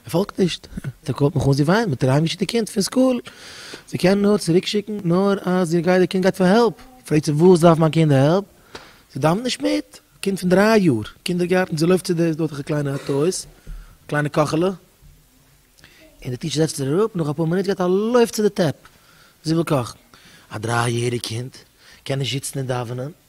ער פאלגט נישט, דער קאפ האט מיך אן, זי וויינט, מ'טאר אהיימגעשיקט די קינד פון סקול, זיי קענען נאר צוריקשיקן נאר אז איר גייט, די קינד גייט פאר העלפ, פרעגט זי וואס דארף מיין קינד העלפ, זי דאווענט נישט מיט, א קינד פון דריי יאר, קינדערגארטן, זי לויפט צו די דארטיגע קליינע אויטאוס, א קליינע קאכעלע, און די טיטשער זעצט איר אראפ, נאך אפאר מינוט געבט א לויף צו די טעפ, זי וויל קאכן, א דריי יעריג קינד קען נישט זיצן און דאווענען.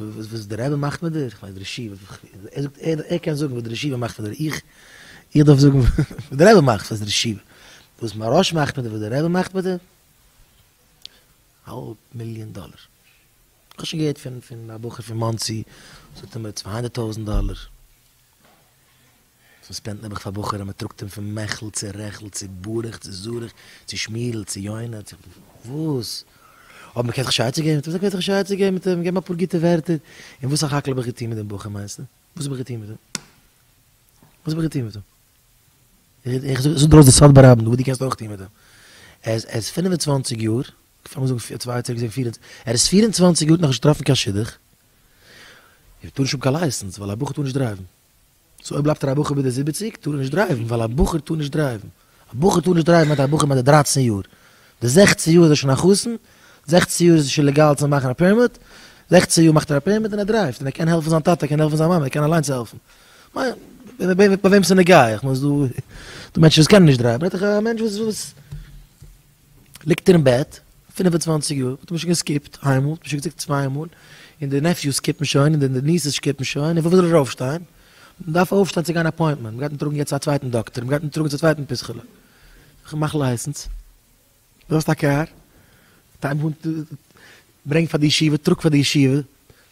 וואס דער רבי מאכט מיט דיר, כ'מיין דער ישיבה, ער זאגט ער קען זאגן וואס דער ישיבה מאכט מיט דיר, איך איך דארף זאגן וואס דער רבי מאכט, וואס דער ישיבה, וואס מהרא ש מאכט מיט דיר, וואס דער רבי מאכט מיט דיר, האלב מיליאן דאלער, כ'האב שוין געהערט פון פון א בחור פון מאנסי, זאגט ער מיר צוויי הונדערט טויזנט דאלער. ס'איז ספענדט נעבעך פאר בחורים מען טראגט אים פון מעכל צו רעכל צו ברך צו זרח צו שמירל צו יונה צו וואס אויב מען קען זיך שייצער געבן מיט אים זאג וועט איך שייצער געבן מיט אים געב אים אפאר גוטע ווערטער און וואס א חאקעלע האב איך געטון מיט דעם בחור מיינסטע וואס האב איך געטון מיט אים וואס האב איך געטון מיט אים איך זאג דיר אויס די סוד ברבים וואס די קענסט אויך טון מיט אים ער איז ער איז פֿינף און צוואַנציק יאר כ'פלעג זאגן צוויי יאר צוריק איז ער ער איז פֿיר און צוואַנציק יאר נאכנישט געטראפן קיין שידוך ער טאר נישט האבן קיין לייסענס ווייל א בחור טאר נישט דרייוון. סאו אויב בלייבט ער א בחור ביז די זיבעציג טאר ער נישט דרייוון ווייל א בחור טאר נישט דרייוון, א בחור טאר נישט דרייוון מיינט א בחור ביי די דרייצן יאר, די זעכצן יאר איז ער שוין א חתן, זעכצן יאר איז עס שוין לעגאל צו מאכן א פערמיט, זעכצן יאר מאכט ער א פערמיט און ער דרייווט און ער קען העלפן זיין טאטע ער קען העלפן זיין מאמע ער קען אליינס העלפן, מיין ביי וועם ס'נוגע, איך מיין ס'איז דא מענטשן וואס קענען נישט דרייוון, רעדט דיך א מענטש וואס. ליגט ער אין בעט פֿינף און צוואַנציק יאר האט מען שוין געסקיפט איינמאל האט מען שוין געזאגט צוויי מאל און די נעפיוס סקיפן שוין און די ניסעס סקיפן שוין און פון וואס זאל ער אויפשטיין מען דארף אויפשטיין צו גיין אפוינטמענט מען גייט אים טראגן יעצט צו א צווייטן דאקטער מען גייט אים טראגן צו א צווייטן פיסכעלע מאך לייסענס דו האסט א קאר ברענג פאר די ישיבה טראג פאר די ישיבה.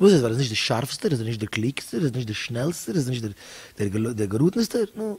וואס איז? ווייל ער איז נישט דער שארפסטער? איז ער נישט דער קלוגסטער? איז ער נישט דער שנעלסטער? איז ער נישט דער געראטענסטער? נו.